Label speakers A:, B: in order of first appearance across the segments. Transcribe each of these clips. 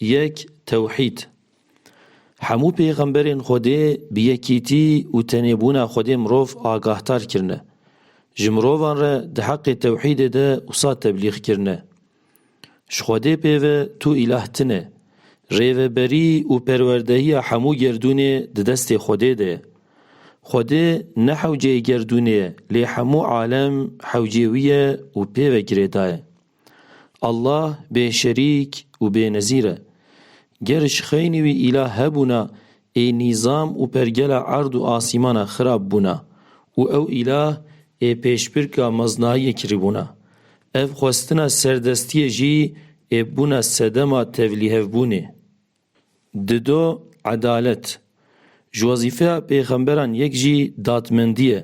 A: Yek, Tewhîd. Hemû pêxemberên Xwedê bi yekîtî û tenêbûna Xwedê mirov agahtar kirine. Ji mirovan re di heqê tewhîdê de wisa teblîx kirine, Ji Xwedê pêve tu îlah tine. Rêveberî û perwerdehiya hemû gerdûnê di destê Xwedê de ye. Xwedê ne hewceyê gerdûnê ye lê hemû alem hewcê wî ye û pêve girêdaye. Allah bêşerîk û bênezîr e. Ger ji xeynî wî îlah hebûna ê nîzam û pergela erd û asîmana xirab bûna û ew îlah ê pêşbirka meznayiyê kiribûna. Ev xwestina serdestiyê jî ê bûna sedema tevlîhevbûnê. Dido edalet, ji wezîfeya pêxemberan yek jî dadmendî ye.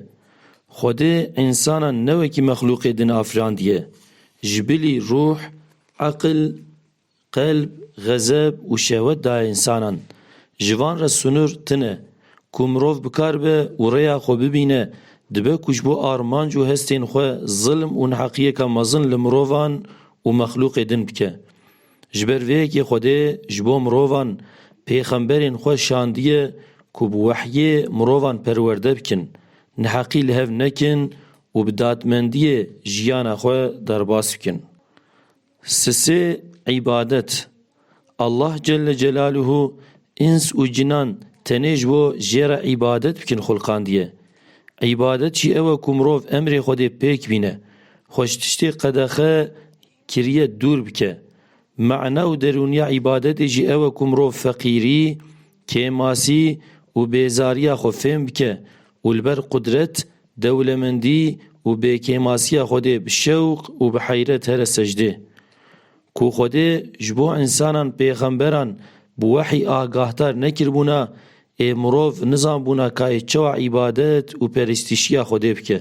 A: Xwedê însanan ne wekî mexlûqê din afirandiye. Ji bilî rûh, eqil, qelb, xezeb û şehwet daye însanan. Ji van re sinûr tine. Ku mirov bi kar be û rêya xwe bibîne, dibe ku ji bo armanc û hestên xwe zilm û neheqiyeke mezin li mirovan û mexlûqê din bike. Ji ber vê yekê Xwedê ji bo mirovan pêxemberên xwe şandiye ku bi wehyê mirovan perwerde bikin, neheqî li hev nekin û bi dadmendiyê jiyana xwe derbas bikin. Sisê îbadet Allah Celle Celaluhu îns û cinan tenê ji bo jê re îbadet bikin xulqandiye. Îbadet jî ew e ku mirov emrê Xwedê pêk bîne, xweş tiştê qedexe, Kiriye dûr bike. Mana û derûniya îbadetê jî ew e ku mirov feqîrî, kêmasî û bêzariya xwe fêm bike û li ber qudret, dewlemendî û bêkêmasiya Xwedê bi şewq û bi heyret here secdê. Ku Xwedê ji bo însanan pêxemberan bi wehî agahdar nekiribûna, ê mirov nizanbûna ka ê çawa îbadet û perestîşiya Xwedê bike.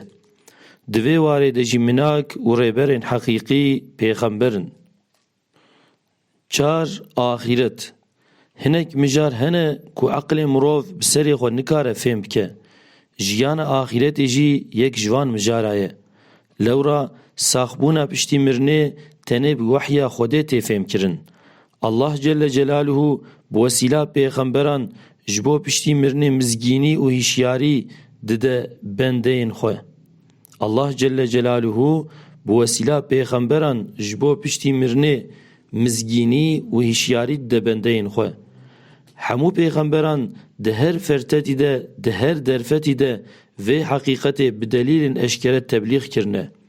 A: Di vê warê de jî minak û rêberên heqîqî pêxember in. Çar, Axîret Hinek mijar hene ku eqilê mirov bi serê xwe nikare fêm bike. Jiyana axîretê jî yek ji van mijara ye. Lewra saxbûna piştî mirinê tenê bi wehya Xwedê tê fêmkirin. Allah Celle Celaluhu bi wesîla pêxemberan ji bo piştî mirinê mizgînî û hişyarî dide bendeyên xwe. Allah Celle Celaluhu bi wesîla pêxemberan ji bo piştî mirinê mizgînî û hişyarî dide bendeyên xwe. Hemû pêxemberan di her fertetî de, di her derfetî de vê heqîqetê bi delîlên eşkere teblîx kirine.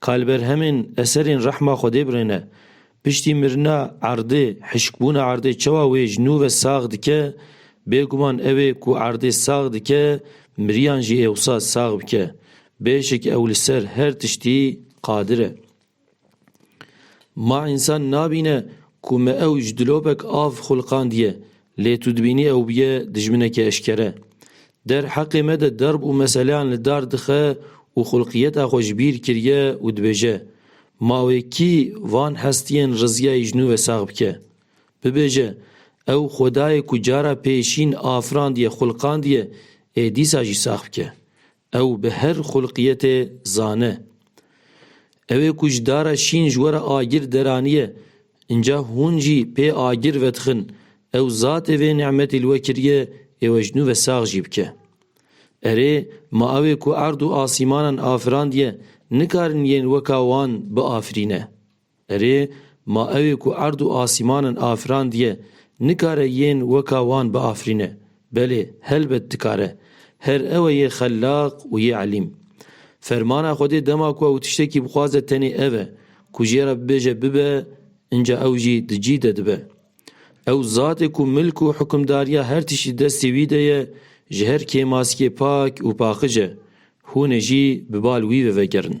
A: Ka li ber hemên eserên rehma Xwedê birêne. Piştî mirina erdê, hişkbûna erdê çawa wê ji nû ve sax dike, bêguman ew ê ku erdê sax dike, miriyan jî ê wisa sax bike. Bêşik ew li ser her tiştî qadir e. Ma însan nabîne ku me ew ji dilopek av xulqandiye, Lê tu dibînî ew bûye dijminekî eşkere. Der heqê me de derb û meseleyan li dar dixe û xulqiyeta xwe ji bîr kiriye û dibêje, Ma wê kî van hestiyên riziyayî ji nû ve sax bike? Bibêje, Ew xwedayê ku cara pêşîn afirandiye, xulqandiye, ê dîsa jî sax bike. Ew bi her xulqiyetê zane. Ew ê ku ji dara şîn ji we re agir deraniye, înca hûn jî pê agir vedixin, ew zatê vê nimetî li we kiriye ê we ji nû ve sax jî bike. Erê, ma ew ê ku erd û asîmanan afirandiye, nikarin yên weka wan biafirîne. Erê, ma ewê ku erd û asîmanin afirandiye, nikare yên weka wan biafirîne? Belê, helbet dikare. Her ew e yê xellaq û yê elîm. Fermana Xwedê dema ku ew tiştekî bixwaze tenê ev e, ku jê re bibêje bibe, inca ew jî di cî de dibe. Ew zatê ku milk û hukimdariya her tiştî destê wî de ye, ji her kêmaskê pak û paqij e. Hûn ê jî bi bal wî ve vegerin.